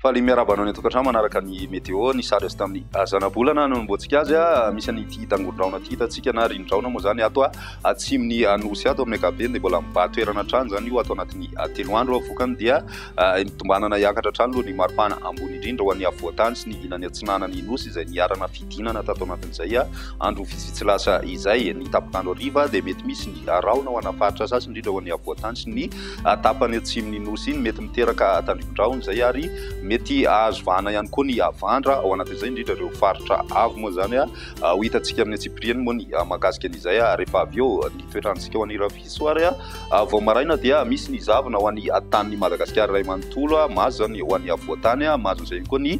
Faly miarahaba anao ny an-tokantrano manaraka ny météo ny sary azo tamin'ny zanabolana no nomboantsika azy a misy an'ity tangon-drahona ity hitantsika na rin-drahona moa zany ato a atsimon'ny anosy ato amin'ny ankapobeny dia mbola mibahan-toerana hatrany izany io ato anatin'ny telo andro vokany dia Tombanana hiakatra hatrany aloha ny maripana ambony indrindra ho an'ny afovoan-tany sy ny ilany atsinanan'ny Nosy izay niharana fidinana tato anatin'izay andro vitsivitsy lasa izay. Ny tapok'andro hariva dia mety misy ny rahona ho ana faritra sasany indrindra ho an'ny afovoan-tany sy ny tapany atsimon'ny Nosy iny. Mety miteraka tandrifin-drahona izay ary mety hahazo vahana ihany koa ny havandra ao anatin'izay indrindra ireo faritra avo moa izany ho hitantsika amin'ny antsipiriany moa ny mahakasika an'izay rehefa avy eo ny toetrantsika ho an'ireo Soary vao maraina dia misy ny zavona ho an'ny tanin'i Madagasikara iray manontolo, mahazo izany ho an'ny afovoan-tany, mahazo an'izay ihany koa ny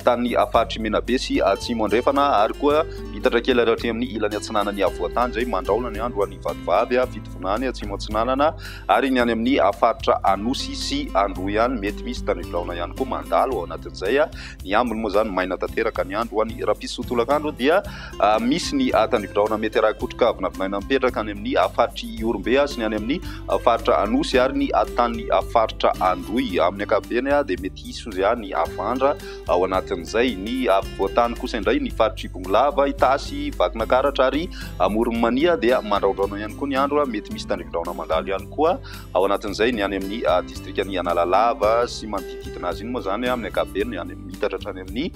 tanin'ny faritry Menabe sy Atsimo Andrefana ary koa mitatra kely ary hatreny amin'ny ilany atsinanan'ny afovoan-tany izay mandrahona ny andro ho an'ny vatovavy fitovinany any Atsimo Atsinanana ary ny any amin'ny faritra Anosy sy Androy ihany. Mety misy tanivolahona ihany koa mandalo ao anatin'izay. Ny ambiny moa izany maina tanteraka ny andro ho an'ny rapiso tolakandro dia misy ny tandrifin-drahona mety ara-kotroka vinavinaina mipetraka any amin'ny faritr'i Ihorombe sy ny any amin'ny faritra Anosy ary ny tanin'ny faritra Androy. Amin'ny ankapobeny dia mety hisy hozy ny havandra ao anatin'izay. Ny afovoan-tany kosa indray ny faritr'i Bongolava, Itasy, Vakinakaratra ary Amoron'i Mania dia mandraondraona ihany koa ny andro. Mety misy tandrifin-drahona mandalo ihany koa ao anatin'izay ny any amin'ny distrikan'i Analalava sy manodidididina azy. Iny moa izany amin'ny ankapobeny any amin'ny mitatra hatrany amin'ny.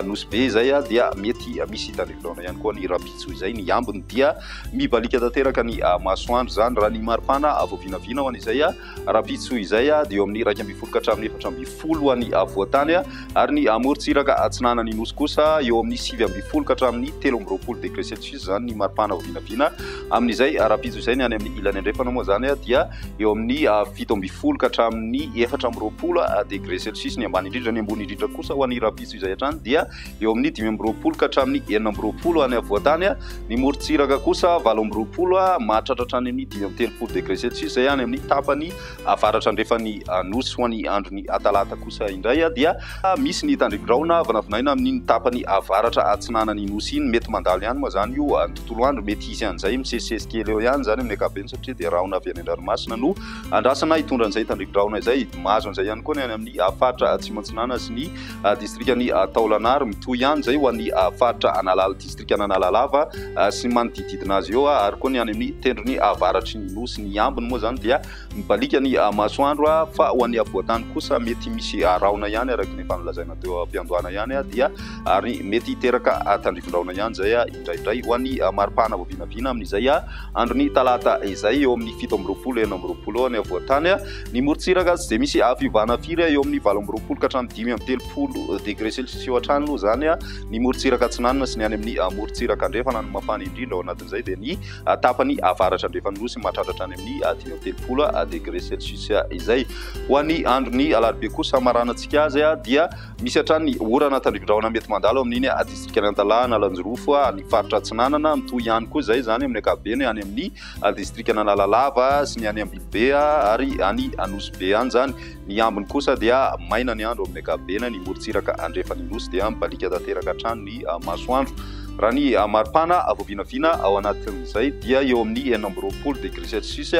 Nosy Be izay dia mety misy hitan'ny firaona ihany koa ny rahampitso izay ny ambiny dia mibaliaka tanteraka ny masoandro izany raha ny maripana vao vinavina ho an'izay rahampitso izay dia eo amin'ny iraika ambin'ny folo ka hatramin'ny efatra ambin'ny folo ho an'ny avoatany ary ny amorontsiraka atsinanan'ny nosy kosa eo amin'ny sivy ambin'ny folo ka hatramin'ny telo amby roapolo degré celsius izany ny maripana vao vinavina amin'izay rahampitso izay ny any amin'ny ilany andrefana moa izany dia eo amin'ny fito ambin'ny folo ka hatramin'ny efatra amby roapolo degré celsius ny ambany indrindra, ny ambony indrindra kosa ho an'ny rahampitso izay hatrany dia eo amin'ny dimy amby roapolo ka hatramin'ny enina amby roapolo any afovoantany, ny morontsiraka kosa valo amby roapolo mahatratra hatrany amin'ny dimy amby telopolo degré celsius izay any amin'ny tapany avaratra andrefan'ny nosy, ho an'ny andron'ny talata kosa indray dia misy ny tandremo-drahona vinavinaina amin'iny tapany avaratra atsinanan'ny nosy iny, mety mandalo ihany moa izany io. tontolo andro, mety hisy an'izay misesisesy kely eo ihany izany amin'ny ankapobeny satria dia rahona avy any an-dranomasina no andrasana hitondra an'izay tandrikin-drahona izay. Mahazo an'izay ihany koa ny any amin'ny faritra Atsimo Atsinanana sy ny distrikan'i Taolagnaro. Mitohy ihany izay ho an'ny faritra Analala, distrikan'Analalava sy ny manodidididina azy eo ary koa ny any amin'ny tendrony avaratry ny nosy. Ny ambiny moa izany dia Mibaliaka ny masoandro fa ho an'ny afovoan-tany kosa mety misy rahona ihany araka ny efa nolazaina teo am-piandohana ihany dia ary mety hiteraka tandrifin-drahona ihany izay indraindray ho an'ny maripana vao vinavina amin'izay andron'ny talata izay eo amin'ny fito amby roapolo enina amby roapolo eo ny afovoan-tany ny morontsiraka tsy dia misy fiovana firy eo amin'ny valo amby roapolo ka hatramin'ny dimy amby telopolo degré celsius eo hatrany aloha izany ny morontsiraka atsinanana sy ny any amin'ny morontsiraka andrefana ny mafana indrindra ao anatin'izay dia ny tapany avaratra andrefan'ny Nosy mahatratra hatrany amin'ny dimy amby telopolo degre celsius izay. Ho an'ny andron'ny alarobia kosa, maranantsika azy dia misy hatrany orana tandrifin-drahona mety mandalo amin'iny distrikan'i Antalaha, Analanjirofo, ny faritra Atsinanana, mitohy ihany koa izay izany amin'ny ankapobeny any amin'ny distrikan'Analalava sy ny any Ambilobe ary any Anosibe any izany. Ny ambiny kosa dia maina ny andro amin'ny ankapobeny, ny morontsiraka andrefan'ny nosy dia mibaliaka tanteraka hatrany ny masoandro. Raha ny maripana vao vinavina ao anatin'izay dia eo amin'ny enina amby roapolo degré celsius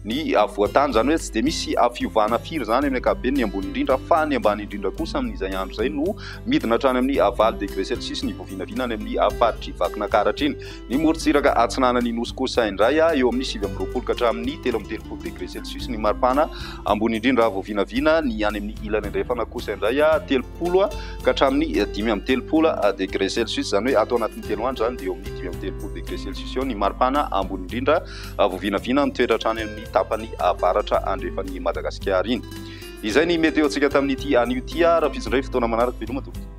ny afovoan-tany, izany hoe tsy dia misy fiovana firy izany amin'ny ankapobeny ny ambony indrindra fa ny ambany indrindra kosa amin'izay andro izay no midina hatrany amin'ny valo degré celsius ny vao vinavina any amin'ny faritr'i Vakinakaratra iny. Ny morontsiraka atsinanan'ny nosy kosa indray, eo amin'ny sivy amby roapolo ka hatramin'ny telo amby telopolo degre celsius ny maripana ambony indrindra raha vao vinavina, ny any amin'ny ilany andrefana kosa indray telopolo ka hatramin'ny dimy amby telopolo degre celsius, izany hoe ato anatin'ny telo andro izany dia eo amin'ny dimy amby telopolo degre celsius eo ny maripana ambony indrindra raha vao vinavina mitoetra hatrany amin'ny tapany avaratra andrefan'i Madagasikara iny. Izay ny meteontsika tamin'ity anio ity, raha fizindray fotoana manaraka veloma tompoko.